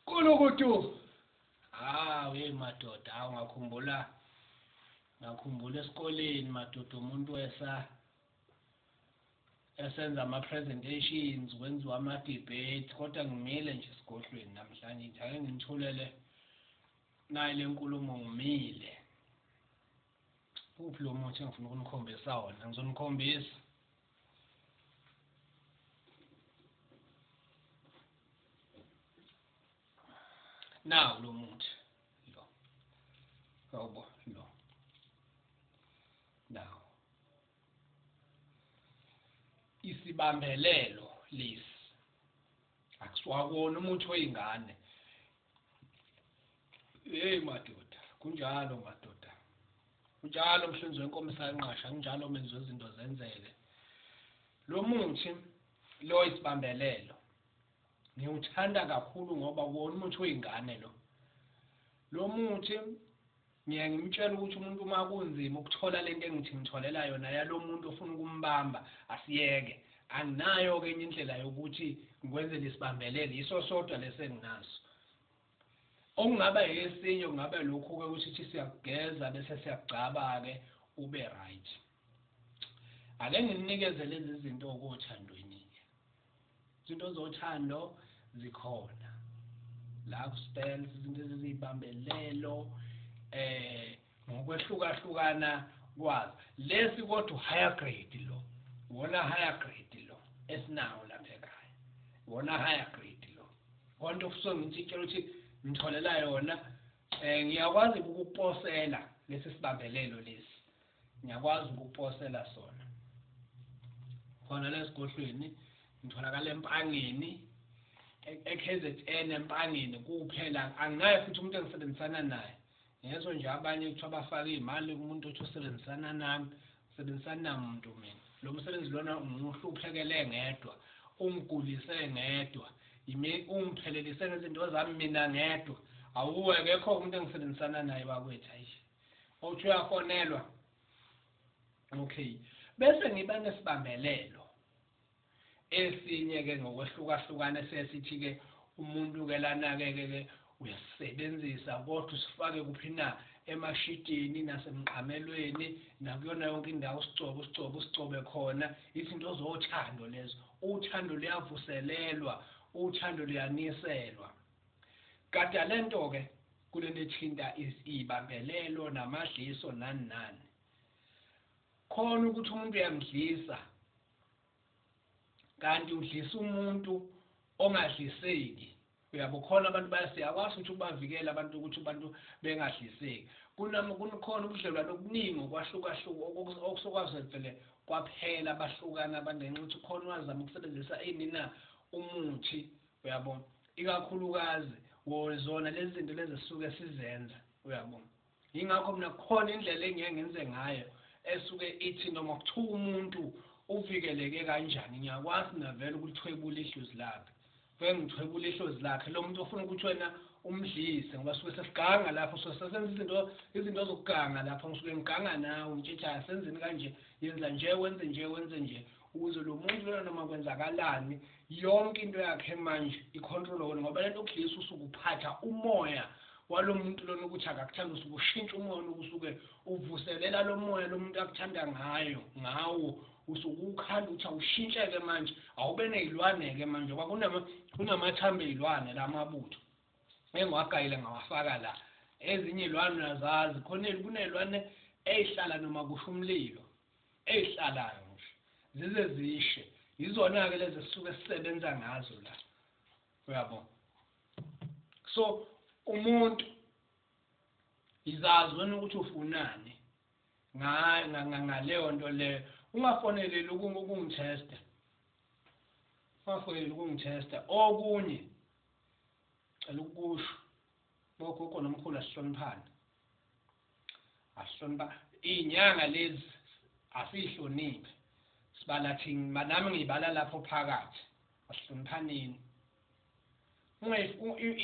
Kulukutu. Ah, hey madoda, awu ngakhumbula ngakhumbula esikoleni madoda umuntu wesa esenza ama presentations kwenziwa ama debate kodwa ngimile nje sigodlweni namhlanje nje ake ngithulele nayi lenkulumo ngimile uphi lo muthi engifuna ukunikhombisa wona ngizonikhombisa nawu lo muthi lo awubo lo nawu isibambelelo lesi akusiwakona umuthi wey'ngane Hey madoda, kunjalo madoda. Kunjalo mhlinzi wenkomo sanqasha, kunjalo menzi wezinto zenzeke. Lo muthi lo isibambelelo. Ngiwuthanda kakhulu ngoba wona umuthi oyingane lo. Lo muthi Ngiye ngimtshele ukuthi umuntu uma kunzima ukuthola lento engithi ngitholela yona yalomuntu ofuna ukumbamba asiyeke. Anginayo ke enye indlela yokuthi ngikwenzele isibambelele yiso sodwa lesi enginaso. Okungaba esinye kungaba lokhu ke ukuthi thi siyakugeza bese siyakugcaba ke ube right. Ake nginikeze lezi zinto okothandweni. Izinto zothando zikhona la ku spells izinto ezizibambelelo eh ngokwehlukahlukana kwazo lesi kodwa higher grade lo wona higher grade lo esinawo lapha ekhaya wona higher grade lo konke ofisa ngithi tshela ukuthi ngitholela yona eh ngiyakwazi ukuposela lesi sibambelelo lesi ngiyakwazi ukuposela sona khona lesigodlweni ngitholakala empangeni e-, eKZN empangeni kuphela anginaye futhi umuntu engisebenzisana naye ngezwe nje abanye kuthiwa bafake iy'mali umuntu othi usebenzisana nami sebenzisani namuntu mina lo msebenzi lona ngiwuhluphekele ngedwa ungigulise ngedwa yimi ungiphelelise ngezinto zami mina ngedwa awuwe kekho umuntu engisebenzisana naye bakwethu ayishi Awuthi uyafonelwa. Okay. Bese ngiba nesibambelelo. Esinye ke ngokwehlukahlukana sesithi ke umuntu ke lana ke ke uyasebenzisa kodwa usifake kuphi na emashidini nasemqamelweni nakuyona yonke indawo usigcobe usigcobe usigcobe khona izinto zothando lezo uthando luyavuselelwa uthando luyaniselwa gada lento ke Kulento ethinta izibambelelo namadliso nani nani khona ukuthi umuntu uyamdlisa kanti udlisa umuntu ongadliseki uyabo khona abantu bayasiyakwazi ukuthi ubavikele abantu ukuthi abantu bengadliseki kunami kukhona ubudlelwane obuningi okwahlukahluka okusokwazi vele kwaphela bahlukana abantu ngenxa ukuthi khona wazama ukusebenzisa inina umuthi Uyabo? Ikakhulukazi, wo, zona lezi zinto lezi esisuke sizenza. Uyabo? Yingakho mina kukhona indlela engiye ngenze ngayo esuke ithi noma kuthiwa umuntu uvikeleke kanjani ngiyakwazi mina vele ukulithwebula ihluzi lakhe vele ngithwebula ihluzi lakhe lo muntu ofuna ukuthi wena umdlise ngoba suke sesiganga lapho so sesenza izinto izinto zokuganga lapho ngisuke ngiganga nawe ngitshitshaya senzeni kanje yenza nje wenze nje wenze nje ukuze lo muntu lona noma kwenzakalani yonke into yakhe manje ikhontrolwe wona ngoba lento okudlisa usuke uphatha umoya walo muntu lona ukuthi akakuthanda usuke ushintsha umoya loku usuke uvuselela lo moya lo muntu akuthanda ngayo ngawo usuke ukhanda ukuthi awushintsheke manje awube ney'lwane-ke manje ngoba kunamathambo ey'lwane la mabutho engiwagayile ngawafaka la ezinye iy'lwane uyazazi khona kuney'lwane ey'hlala noma kusho umlilo ezihlalayo ngisho zize zishe yizona-ke lezi esisuke sisebenza ngazo la uyabo so umuntu izazi wena ukuthi ufunani ngaleyo nto leyo ungafoneleli ukungithesta ungafoneleli ukungithesta okunye cela ukusho bogogo nomkhulu asihloniphane ahlonipha inyanga lezi asihloniphi sibala thina nami ngibala lapho phakathi asihloniphaneni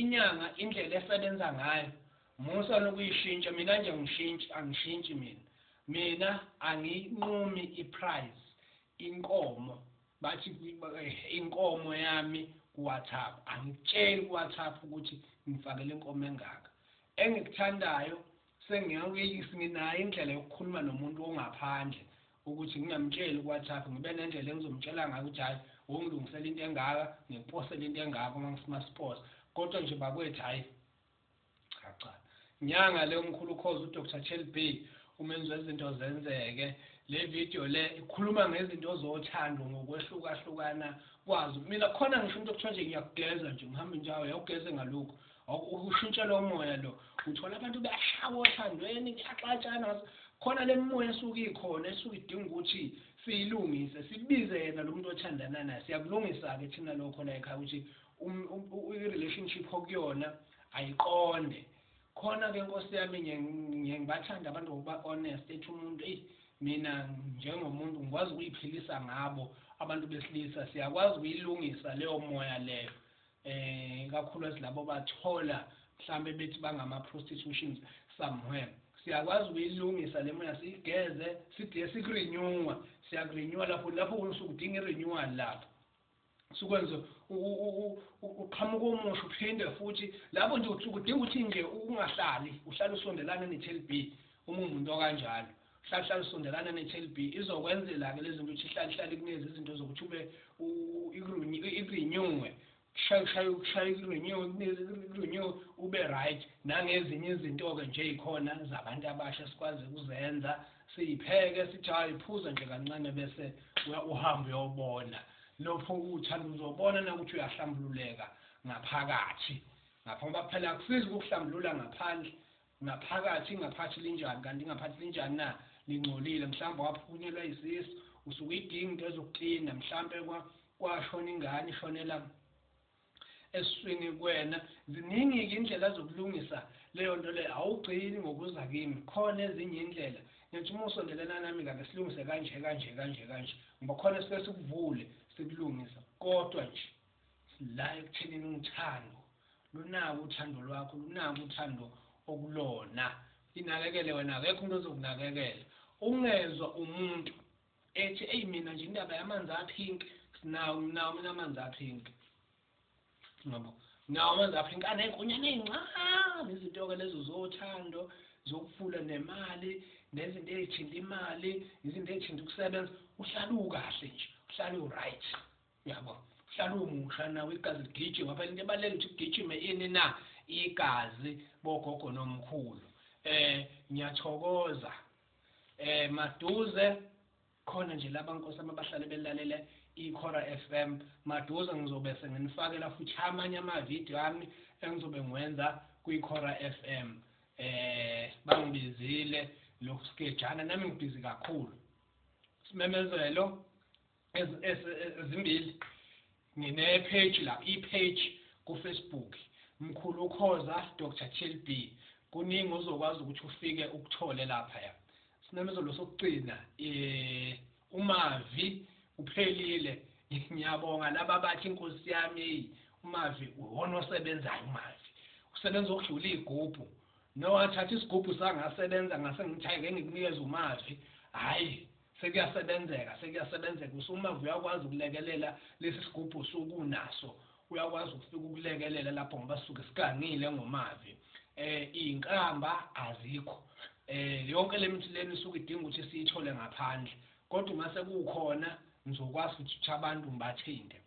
inyanga indlela esebenza ngayo musa nokuyishintsha mina nje ngishintshi angishintshi mina mina anginqumi iprize inkomo bathi inkomo yami kuWhatsApp angitsheli kuWhatsApp ukuthi ngifakele inkomo engaka engikuthandayo sengiyawuyeyisi nginayo indlela yokukhuluma nomuntu ongaphandle ukuthi ngingamtsheli kuWhatsApp ngibe nendlela engizomtshela ngayo ukuthi hayi wongilungisela into engaka ngiposele into engaka uma ngifuna siposa kodwa nje bakwethu hayi cha cha nyanga le umkhulu khozi uDr Chelbey umenzi wezinto zenzeke le video le ikhuluma ngezinto ozothando ngokwehlukahlukana kwazo mina khona ngisho umuntu okuthiwa nje ngiyakugeza nje ngihambe nje awu yawugeze ngalokhu ushintshela umoya lo uthola abantu beyashawa othandweni kuyaxatshana khona le mimoya esuke ikhona esuke idinga ukuthi siyilungise sibize yena lo muntu othandana naye siyakulungisa-ke thina lokho la ekhaya ukuthi um, um, um, i-relationship okuyona ayiqonde khona ke nkosi yami ngiye ngibathanda abantu ngokuba honest ethi umuntu eyi mina njengomuntu ngikwazi ukuyiphilisa ngabo abantu besilisa siyakwazi ukuyilungisa leyo moya leyo eh kakhulukazi labo bathola mhlambe bethi bangama prostitutions somewhere siyakwazi ukuyilungisa le moya siyigeze sidiye sikurenewa siyakurenewa lapho lapho usuke udinga irenewal lapho sukwenza uqhamuka omusha uphinde futhi lapho nje kudinga ukuthi nje ungahlali uhlale usondelana ne-TLB uma umuntu okanjalo hlala hlala usondelana ne-TLB izokwenzela-ke lezi zinto ukuthi hlale hlale kunezi izinto zokuthi ube ikurenyuwe kushayushaya ukushaya ikurenyuwe ube right nangezinye izinto-ke nje yikhona zabantu abasha sikwazi ukuzenza Siyipheke, sijahe, phuza nje kancane bese uhamba uyobona. Nopho uthanda uzobona nakuthi uyahlambululeka ngaphakathi. Ngapha ngoba phela akusizi ukuhlambulula ngaphandle ngaphakathi ingaphathi linjani kanti ingaphathi linjani na lingcolile mhlawumbe waphunyelwa isisu usuke idinga into ezokuklina mhlawumbe kwashona ingane ishonela eswini kwena ziningi ke indlela zokulungisa leyo nto leyo awugcini ngokuza kimi khona ezinye indlela ngithi uma usondelana nami kake silungise kanje kanje kanje kanje ngoba khona sike sikuvule sikulungisa kodwa nje la ekuthenini uthando lunako uthando lwakho lunako uthando okulona inakekele wena akekho umuntu ozokunakekela ungezwa umuntu Ethi eyi mina nje indaba yamanzi a pink sinawo nginawo mina amanzi a pink ngabo nawo amanzi a pink aney'nkonyana ey'ncane izinto-ke lezo zothando zokufula nemali nezinto ey'thinta imali izinto ey'thinta ukusebenza uhlale ukahle nje uhlale u-right yabo uhlale umusha nawe igazi ligijima phela into ebalulekile ukuthi kugijime ini na igazi bogogo nomkhulu um ngiyathokoza eh maduze khona nje laba nkosi ababahlale belalele ikhora FM maduze ngizobe senginifakela futhi amanye ama video ami engizobe ngiwenza kwikhora FM eh bangibizile lokhu sikejana nami ngibhizi kakhulu simemezelo ezimbili ngine page la i page ku Facebook mkhulu ukhoza Dr TLB kuningi ozokwazi ukuthi ufike ukuthole lapha ya sinamezelo sokugcina eh umavi uphelile ngiyabonga laba bathi inkosi yami umavi uwona osebenzayo umavi usebenza ukudlula igubhu nowathatha isigubhu sangasebenza ngase ngithayeke ngikunikeza umavi hayi Sekuyasebenzeka, sekuyasebenzeka. Usumava uyakwazi ukulekelela lesi sigubhu osuke unaso. Uyakwazi ukufika ukulekelela lapho ngoba sisuke sigangile ngomavi. Eh izinkamba azikho. Eh yonke lemithi lena isuke idinga ukuthi siyithole ngaphandle. Kodwa uma sekukhona ngizokwazi ukuthi abantu ngibathinte.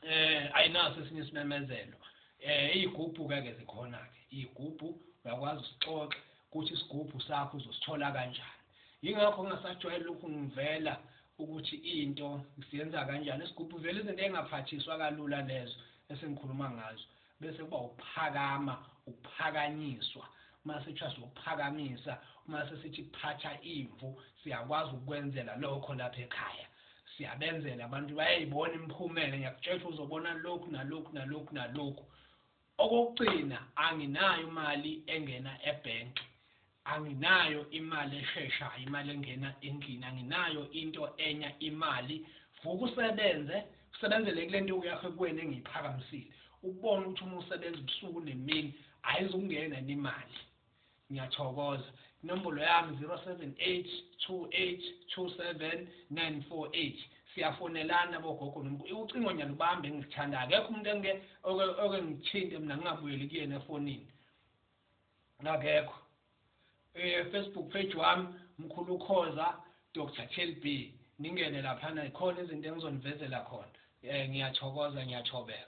eh ayinaso esinye isimemezelo eh izigubhu ke ke zikhona ke izigubhu uyakwazi usixoxa ukuthi isigubhu sakho uzosithola kanjani yingakho ngingasajwayele lokhu ngivela ukuthi into siyenza kanjani isigubhu vele izinto engaphathiswa kalula lezo esengikhuluma ngazo Bese kuba ukuphakama, ukuphakanyiswa. Uma sitshwa siyokuphakamisa, uma sesithi phatha imvu, siyakwazi ukukwenzela lokho lapha ekhaya. Siyabenzela abantu bayayibona imiphumela, ngiyakutshela ukuthi uzobona lokhu nalokhu nalokhu nalokhu. Okokugcina anginayo imali engena ebhenki. Anginayo imali esheshayo imali engena endlini anginayo into enya imali vuka usebenze usebenzele kulento yakho kuwena engiyiphakamisile ubone ukuthi uma usebenza ubusuku nemini ayizukungena imali ngiyathokoza inombolo yami 0782827948 siyafonelana bogogo nomkhulu ucingo ngiyalubamba engilithanda akekho umuntu engike oke ngithinte mina ngingabuyeli kuyena efonini akekho eh Facebook page wami mkhulu khoza Dr TLB ningene lapha na ikhona izinto engizonivezela khona eh ngiyathokoza ngiyachobeka